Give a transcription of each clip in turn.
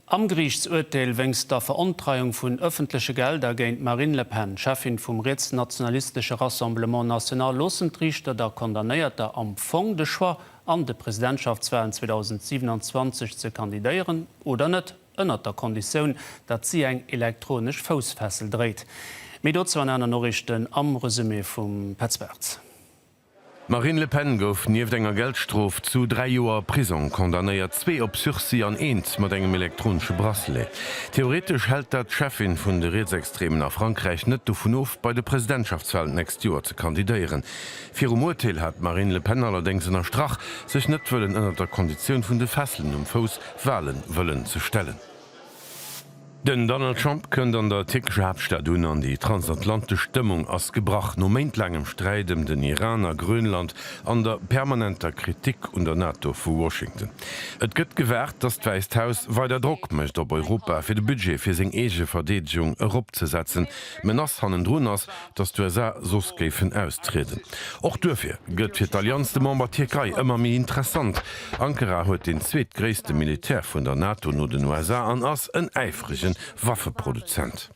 Am Geriichtsurteel wéinst der Verontreiung vun ëffentleche Gelder géint d'Marine Le Pen, Cheffin vum rietsnationalistesche Rassemblement National, loossen d'Riichter der Condamnéierter am Fong de Choix, an de Presidentschaftswalen 2027 ze kandidéieren oder net, ënnert der Konditioun, datt si eng elektronesch Foussfessel dréit. Méi dozou an aner Noriichten am Resumé vum Petz Bartz. D'Marine Le Pen gouf nieft enger Geldstrof zu dräi Joer Prisong condamnéiert, zwee op Sursis an eent mat engem elektronesche Bracelet. Theoretesch hält dat d'Cheffin vun de Rietsextremen a Frankräich net dovun of, bei de Presidentschaftswalen d'nächst Joer ze kandidéieren. Virum Urteel hat d'Marine Le Pen allerdéngs ënnerstrach, sech net wëllen ënnert der Konditioun vun de Fesselen um Fouss Wale wëllen ze stellen. Den Donald Trump kënnt an der tierkescher Haaptstad un an déi transatlantesch Stëmmung ass gebrach. No méintlaangem Sträit ëm den Iran a Grönland an der permanenter Kritik un der NATO vu Washington. Et gëtt gewaart, datt d'Wäisst Haus weider Drock mécht op Europa, fir de Budget fir seng eege Verdeedegung eropzesetzen. D'Menace hannendrun ass, datt d'USA soss géifen austrieden. Och duerfir gëtt fir d'Allianz de Member Tierkei ëmmer méi interessant. Ankara huet deen zweetgréisste Militär vun der NATO no den USA an ass en äifrege Waffeproduzent.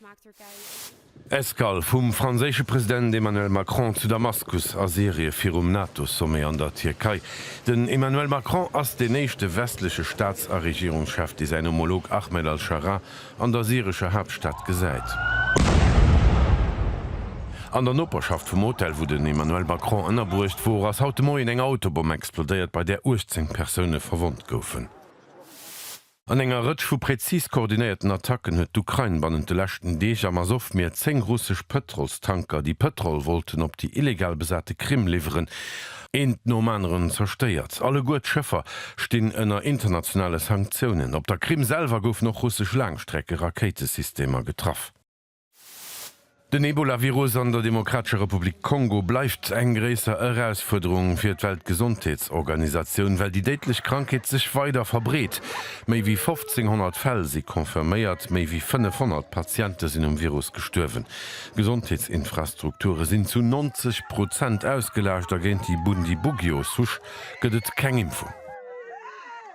Escale vum franséische President Emmanuel Macron zu Damaskus a Syrie virum NATO-Sommet an der Tierkei. Den Emmanuel Macron ass deen éischte westleche Staats a Regierungschef, dee säin Homolog Ahmed al-Sharaa An der syrescher Haaptstad gesäit. An der Noperschaft vum Hotel, wou den Emmanuel Macron ënnerbruecht wor, ass haut de Moien eng Autobomm explodéiert, bei där 18 Persoune verwonnt goufen. An enger Rëtsch vu präzis koordinéierten Attacken huet d'Ukrain bannent de leschten Deeg am Asow-Mier 10 russesch Pëtrolstanker, déi Pëtrol wollten op déi illegal besate Krim liwweren, Eent nom aneren zerstéiert. Alleguer d'Schëffer stinn ënner internationale Sanktiounen. Op der Krim selwer goufen och russesch Laangstreckerakéitesystemer getraff. Den Ebola-Virus an der Demokratescher Republik Kongo bleift eng gréisser Erausfuerderung fir d'Weltgesondheetsorganisatioun, well déi déidlech Krankheet sech weider verbreet. Méi wéi 1.500 Fäll si confirméiert, méi wéi 500 Patiente sinn um Virus gestuerwen. D'Gesondheetsinfrastrukture sinn zu 90 Prozent ausgelaascht a géint déi Bundibugyo-Souche gëtt et keng Impfung.